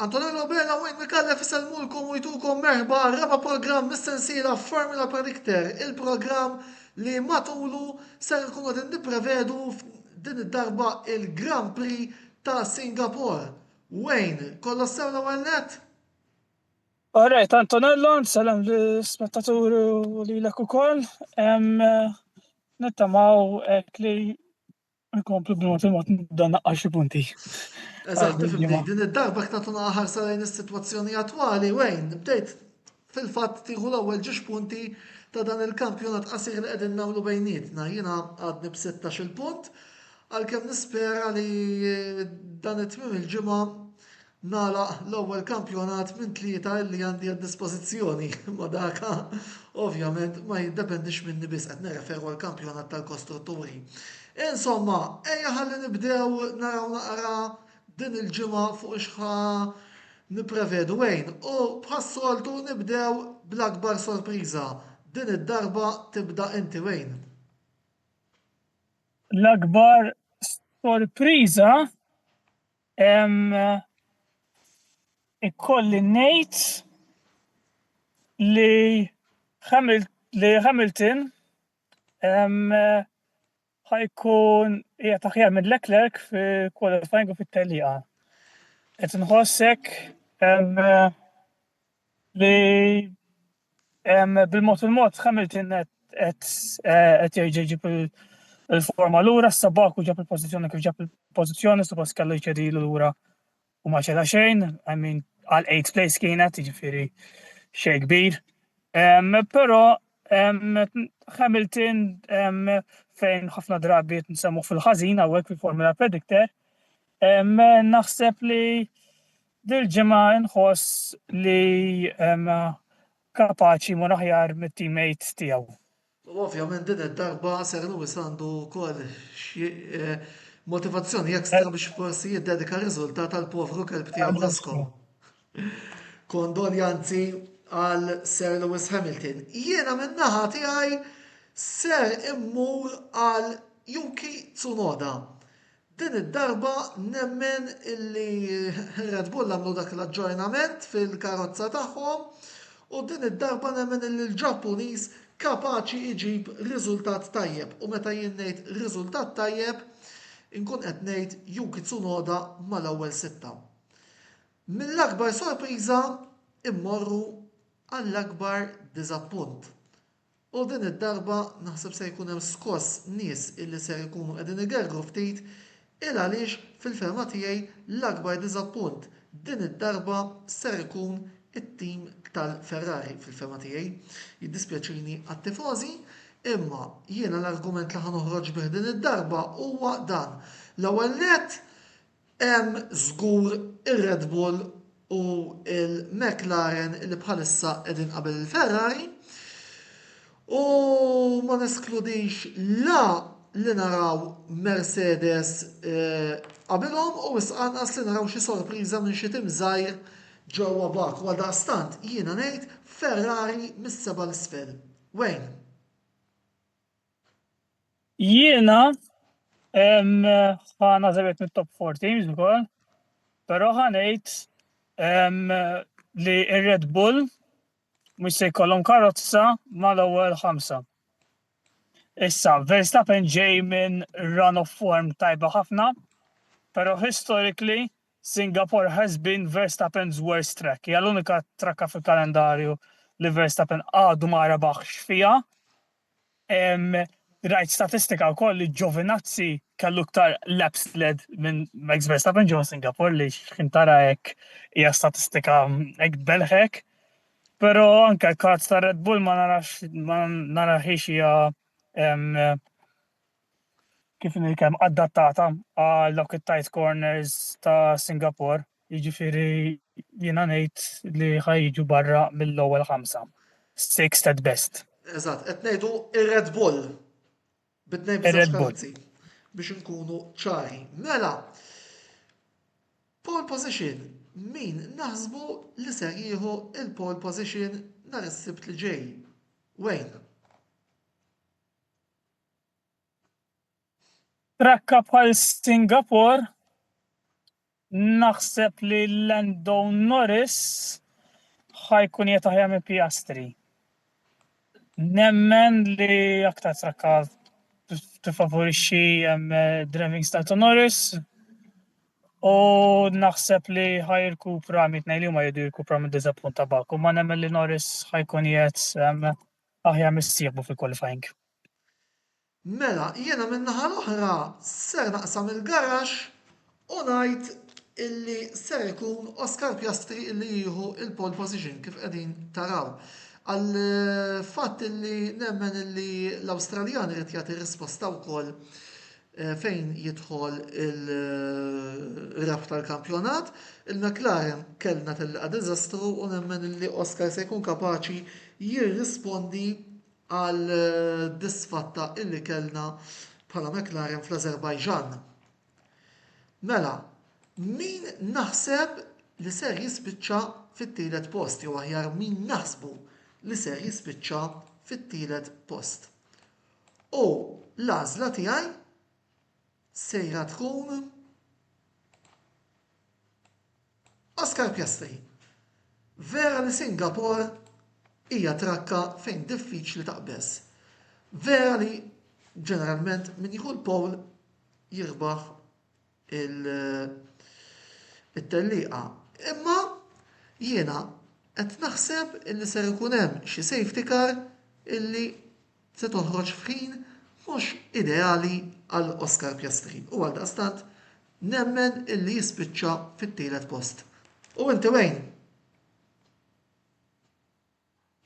Antonello Bella u Enric Gallef isalmulkom u jtukom merħba għal raba programm mis-sensiela Formula Predictor, il-programm li matulu ser ikunu qegħdin nipprevedu din id-darba il-Grand Prix ta' Singapore. Wayne, kollox sew l-ewwel net? Alright, Antonello, nsalam li spettaturi u li l-ek u koll. Nittamaw ek li Nkomplu b'mod il-mod nibda naqqa' xi punti. Eżatt, tifhimni, din id-darba ktar tuna ħarsa lejn is-sitwazzjoni attwali wejn bdejt fil-fatt tieħu l-ewwel ġiex punti ta' dan il-kampjonat qasir li qegħdin nagħmlu bejnietna. Jiena għadni b'sittax il-punt għalkemm nispera li dan it-tmiem il-ġimgħa nagħlaq l-ewwel kampjonat minn tlieta illi għandi għad-dispożizzjoni, imma dak, ovvjament, ma jiddependix minni biss, qed nirreferu għall-kampjonat tal-kostrutturi. Insomma, ejja ħalli nibdew naraw naqra din il-ġimgħa fuq ix ħa nipprevedu Wayne u bħas-soltu nibdew bl-akbar sorpriża. Din id-darba tibda inti Wayne. L-akbar sorpriża Ikolli ngħid li li Hamilton ħa jkun qiegħed aħjar minn Leclerc fil-qualifying u fit-tellieqa. Qed inħoss hekk li bil-mod il-mod Hamilton qed qed jerġa' jġib il-forma lura, issa Baku ġab il-pożizzjoni kif ġab il-pożizzjoni, suppost kellu jċedilu lura u ma ċeda xejn, I mean għal 8 place kienet, jiġifieri xejn kbir. Però Hamilton fejn ħafna drabi qed nsemmu fil-ħażin hawnhekk fil-Formula Predictor, naħseb li Dil-ġimgħa nħoss li kapaċi mmur aħjar mit-teammates tiegħu. U ovvjament din id-darba Sir Lewis għandu wkoll xi motivazzjoni extra biex forsi jiddedika r-riżultat għall-povru kelb tiegħu Blasco. Kondoljanzi għal Sir Lewis Hamilton. Jiena min-naħa tiegħi ser immur għal Yuki Tsunoda. Din id-darba nemmen illi Red Bull għamlu dak l-aġġornament fil-karozza tagħhom u din id-darba nemmen illi l-Ġappuniż kapaċi jġib riżultat tajjeb u meta jien ngħid riżultat tajjeb inkun qed ngħid Yuki Tsunoda mal-ewwel sitta. Mill-akbar sorpriża immorru għall-akbar diżappunt. U din id-darba naħseb se jkun hemm skoss nies illi ser ikunu qegħdin igergru ftit il għaliex fil-fehma tiegħi l-akbar diżappunt din id-darba ser ikun it-tim tal-Ferrari fil-fehma tiegħi. Jiddispjaċini għat-tifożi imma jiena l-argument li ħa noħroġ bih din id-darba huwa dan. L-ewwel nett Hemm żgur ir-Red Bull u l-McLaren li bħalissa qegħdin qabel il-Ferrari u ma neskludix la li naraw Mercedes qabilhom u wisq anqas li naraw xi sorpriża minn xi tim żgħir ġewwa Baku. Għaldaqstant jiena ngħid Ferrari mis-seba' 'l isfel. Wayne. Jiena ħa naħseb qed mit-top four teams ukoll, però ħa ngħid li r-Red Bull mhux se jkollhom karozza mal-ewwel ħamsa. Issa, Verstappen ġej minn run of form tajba ħafna, però historically Singapore has been Verstappen's worst track, hija l-unika trakka fil-kalendarju li Verstappen għadu ma rebaħx fiha. Rajt statistika wkoll li Giovinazzi kellu iktar laps led minn Max Verstappen ġewwa Singapore li xħin tara hekk hija statistika hekk tbelħek. Però anke l-kards ta' Red Bull ma narax ma narahiex hija kif inhi kemm adattata għal dawk it-tight corners ta' Singapore, jiġifieri jiena ngħid li ħa jiġu barra mill-ewwel ħamsa. Sixth at best. Eżatt, qed ngħidu ir-Red Bull bit-tnejn biż-żewġ karozzi biex inkunu ċari. Mela, pole position, min naħsbu li ser jieħu il-pole position nhar is-sibt li ġej? Wayne. Frakka bħal Singapore naħseb li Lando Norris ħa jkun qiegħed aħjar minn Piastri. Nemmen li aktar frakka tifavorixxi driving style ta' Norris u naħseb li ħa jirkupra mitnej li huma jridu jirkupra mid-diżappunt ta' Baku ma nemmen li Norris ħa jkun qiegħed aħjar missieħbu fil-qualifying. Mela, jiena min-naħa l-oħra ser naqsam il-garaxx u ngħid illi ser ikun Oscar Piastri illi jieħu l-pole position kif qegħdin taraw. Għal fatt illi nemmen illi l-Awstraljan irid jagħti risposta wkoll eh, fejn jidħol il-ref tal-kampjonat, il-McLaren kellna tilqa diżastru u nemmen illi Oscar se jkun kapaċi jirrispondi għad-disfatta illi kellna bħala McLaren fl-Azerbaijan. Mela, min naħseb li ser jispiċċa fit-tielet post jew aħjar min naħsbu li ser jispiċċa fit-tielet post. U l-għażla tiegħi sejra tkun Oscar Piastri, Vera li Singapore hija trakka fejn diffiċli taqbeż. Vera li ġeneralment min jieħu l-pole jirbaħ it-tellieqa. Imma jiena qed naħseb illi ser ikun hemm xi safety car illi se toħroġ f'ħin mhux ideali għal Oscar Piastri u għaldaqstant nemmen illi jispiċċa fit-tielet post. U inti Wayne?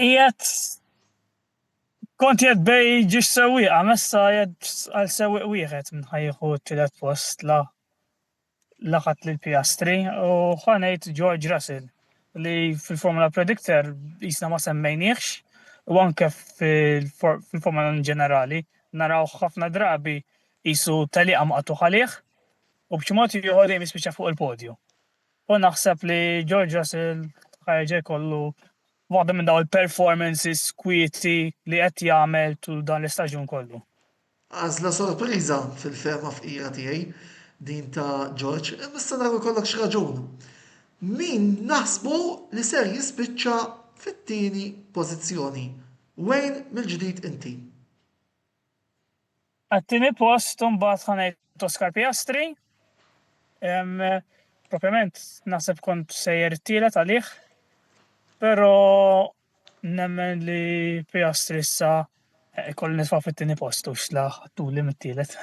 Qiegħed kont qed bej ġiex sewwieqa messa qed għal sewwieq wieħed minn ħajħu t-tielet post la laqat lil Piastri u ħa ngħid George Russell li fil-Formula Predictor jisna ma semmejniehx u anke fil-Formula in ġenerali naraw ħafna drabi jisu taliqa maqtugħ għalih u b'xi mod ieħor dejjem jispiċċa fuq il-podju. U naħseb li George Russell ħajġa jkollu waħda minn daw il-performances kwieti li qed jagħmel tul dan l-istaġun kollu. Għażla sorpriża, fil-fehma fqira tiegħi, din ta' George, imma issa naraw ikollokx raġun. Min naħsbu li ser jispiċċa fit-tieni pożizzjoni? Wayne mill-ġdid inti. Għat-tieni post imbagħad ħa ngħid Oscar Piastri. Propjament naħseb kont sejjer it-tielet għalih, però Nemmen li Piastri issa jkolli nitfgħu fit-tieni post u x'la ħadtuli mit-tielet.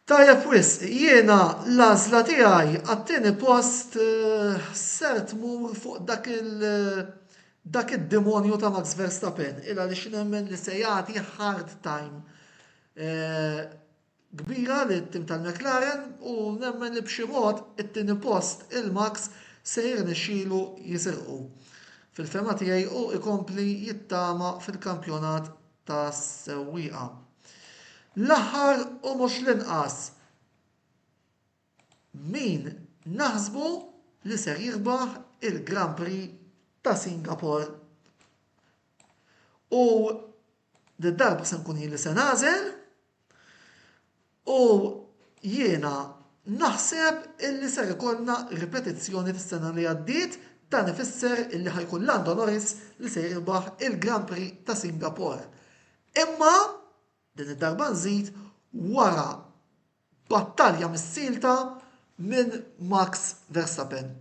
Tajjeb wisq, jiena l-għażla tiegħi għat-tieni post ser tmur fuq dak id-demonju ta' Max Verstappen, il għaliex nemmen li se jagħti hard time kbira lit-tim tal-McLaren u nemmen li b'xi mod it-tieni post 'il Max se jirnexxilu jisirqu. Fil-fehma tiegħi hu jkompli jittama fil-kampjonat tas-sewwieqa. L-aħħar u mhux l-inqas, min naħsbu li ser jirbaħ il-Grand Prix ta' Singapore? U Did-darba se nkun jien li se nagħżel u jiena naħseb illi ser ikollna ripetizzjoni fis-sena li għaddiet, dan ifisser illi ħa jkun Lando Norris li se jirbaħ il-Grand Prix ta' Singapore. Imma, din id-darba nżid, wara Battalja missielta minn Max Verstappen.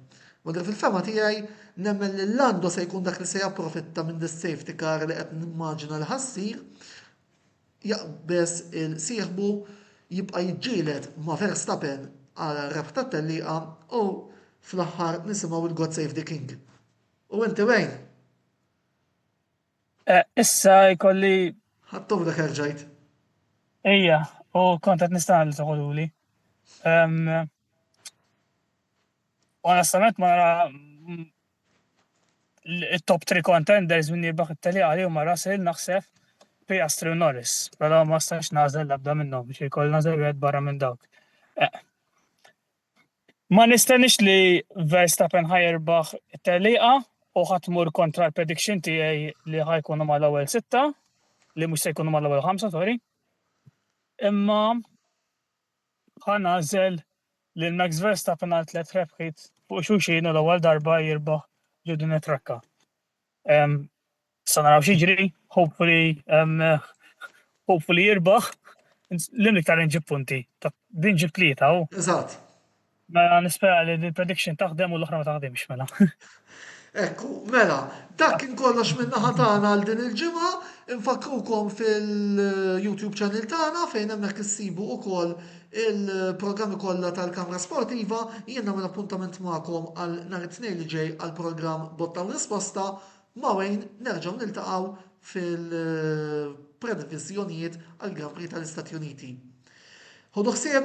Madank fil-fehma tiegħi, nemmen li Lando se jkun dak li se japprofitta minn dis-safety car li qed nimmaġina li ħa ssir, jaqbeż il sieħbu, jibqa' jiġġieled ma' Verstappen għal rebħ tat-tellieqa u fl-aħħar nisimgħu il-God Save the King. U inti wejn? Eh, issa jkolli. Ħattom dak erġajt. Ejja, u kont qed nistana li toħoduli. Onestament ma nara mm, il-top 3 contenders minn jirbaħ it-tali għali u ma Russell naħseb Piastri u Norris, pero ma stax nażel labda minnhom biex jkoll nażel wieħed barra minn dawk. Eh, Ma nistenniex li Verstappen ħa jirbaħ it-tellieqa u ħa tmur kontra l-prediction tiegħi li ħa jkunu mal-ewwel sitta, li mhux se jkunu mal-ewwel ħamsa, sorry. Imma ħa nagħżel lil Max Verstappen għal tliet rebħiet fuq xulxin u l-ewwel darba jirbaħ ġo din it-trakka. Um, sa naraw xiġri, hopefully, um, hopefully jirbaħ, l-im iktar nġib punti, din ġib tlieta u. Eżatt. Mela nispera li l-prediction taħdem u l-oħra ma taħdimx mela. Ekku, mela, dak kien kollox minna ħatana għal din il-ġimgħa, infakrukom fil-YouTube channel tagħna fejn hemmhekk issibu ukoll Il-programmi kollha tal-Kamra Sportiva jiena minn appuntament magħkom għal nhar it-Tnejn li ġej għal programm Botta u Risposta ma' Wayne nerġgħu niltaqgħu fil-previżjonijiet għal Grand Prix tal-Istati Uniti. Ħodu ħsieb